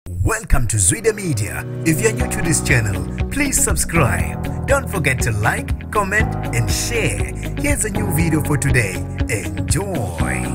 Welcome to Zwide Media. If you're new to this channel, please subscribe. Don't forget to like, comment, and share. Here's a new video for today. Enjoy.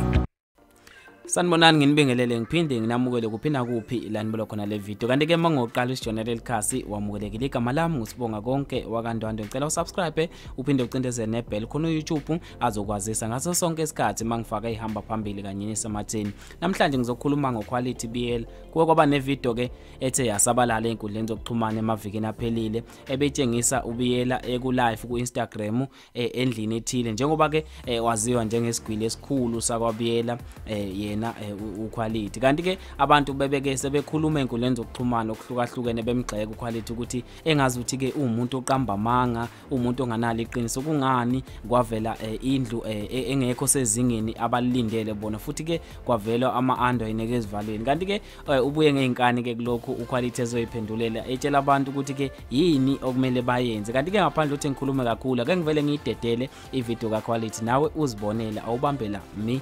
Sanibonani nginibingelele ngiphinde nginamukele kuphinda kuphi la nibolo khona le video kanti ke mangoqala isijournal elikhasi wamukelekile igama lami ngusibonga konke wakandwandwe ngicela usubscribe uphinde ucindezele nebell khona uYouTube azokwazisa ngaso sonke isikhathi mangifaka ihamba phambili kanye nesematheni namhlanje ngizokhuluma ngoquality BL kuwe kwaba nevideo ke ethe yasabalala enkundleni zokuxhumana emavikini aphelile ebetshengisa ubiyela ekulive ku-Instagram eh, endlini ethile njengoba ke eh, waziwa njengesigwili esikhulu sakwabiyela eh, yena uquality kanti ke abantu bebeke sebekhuluma enkundleni zokuxhumana okuhlukahlukene bemgxeka uquality ukuthi engazi ukuthi ke uwumuntu oqamba amanga umuntu onganalo iqiniso kungani kwavela eh, indlu eh, e-, engekho sezingeni abalilindele bona futhi ke kwavela ama-ando ayineke ezivalweni kanti ke eh, ubuye ngey'nkani ke kulokhu ukhwalithi ezoyiphendulela etshela abantu ukuthi ke yini okumele bayenze kanti ke ngaphandle ukuthi ngikhulume kakhulu ake ngivele ngiyidedele ividiyo kakhwalithi nawe uzibonele awubambela mi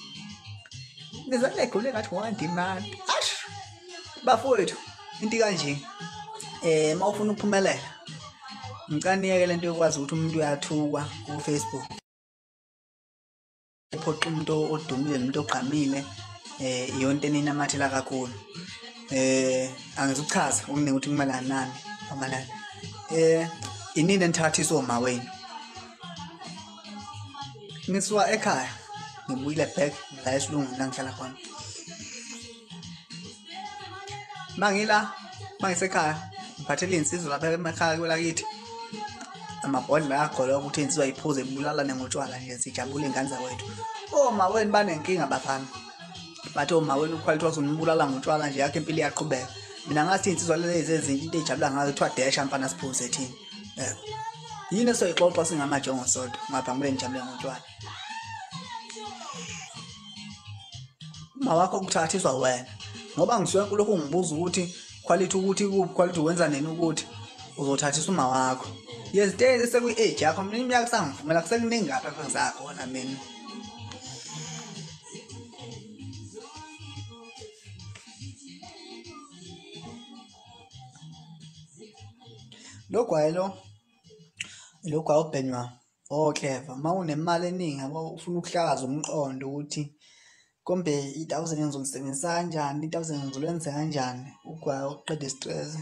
ngizale egule ngathi one demand ash bafowethu into kanje eh mawufuna ukuphumelela ngicela niyeke lento yokwazi ukuthi umuntu uyathukwa ku Facebook uphoqa umuntu odumile nomuntu ogqamile eh yonke ninamathela kakhulu eh angizuchaza okuningi ukuthi kumelana nani amalana eh inini enithatha isoma wenu ngisuka ekhaya ngibuyile back la esilungwini la ngihlala khona uma ngila uma ngisekhaya ngiphathele iy'nsizwa lapha emakhaya kwelakithi amabhodlela agolwa ukuthi insizwa iphuze ibulalane ngotshwala nje sijabule ingane zakwethu omaweni banenkinga bafana bathi omaweni ukhwalithiwa sunibulala ngotshwala nje yakho impilo iyaqhubeka mina ngathi iy'nsizwa lezi ezinye into eyijabula ngazo kuthiwa desha mfana siphuze thina um yini esoyixoxa singamajongo sodwa ngaphambi njalo ngotshwala uma wakho kuthathiswa wena ngoba ngisuke kulokhu ungibuza ukuthi quality ukuthi kuphi quality wenza nini ukuthi uzothathisa uma wakho yezitezi sekwi-age yakho mina iminyaka kusangivumela kusekuningi ngapha kwenzakhona mina lo gwayi lo lo gwayi obhenywa okleva uma unemali eningi yabo ufuna ukuhlakaza umqondo ukuthi kombe i-thousand ngizolisebenzisa kanjani i-thousand ngizolwenza kanjani ugwayi okuqeda isitrese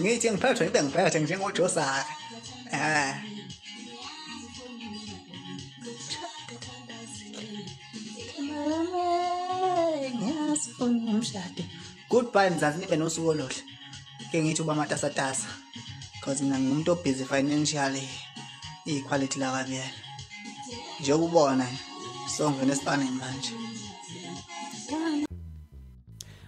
ngithi ngiphathwe ngibe ngiphethe njengojosaka um eh. umshado goodbye mzansi nibe nosuku oluhle ke ngithi uba matasatasa because mina ngimuntu obhizi financially iyiquality lakabiyela njengoba ubona so ngivele esipanini manje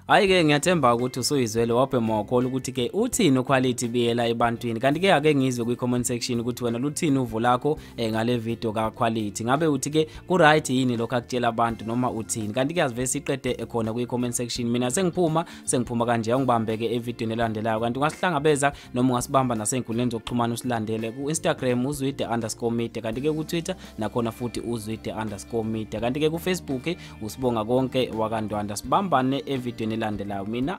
Hayi-ke ngiyathemba ukuthi usuyizwele wabhe mokho lokuthi-ke uthini ukhwalithi biyela ebantwini kanti-ke ake ngizwe kwi-comment section ukuthi wena luthini uvo lakho um ngale vidiyo kakhwalithi ngabe uthi-ke ku-right yini lokho akutshela abantu noma uthini kanti-ke azive siqede khona kwi-comment section mina sengiphuma sengiphuma kanje awungibambeke evidiyweni elandelayo kanti ungasihlangabeza noma ungasibamba nasey'nkundleni zokuxhumana usilandele ku-instagram uzwide underscore media kanti-ke ku-twitter nakhona futhi uzwide underscore media kanti-ke kufacebook usibonga konke wakandwanda sibambane evidweni elandelayo mina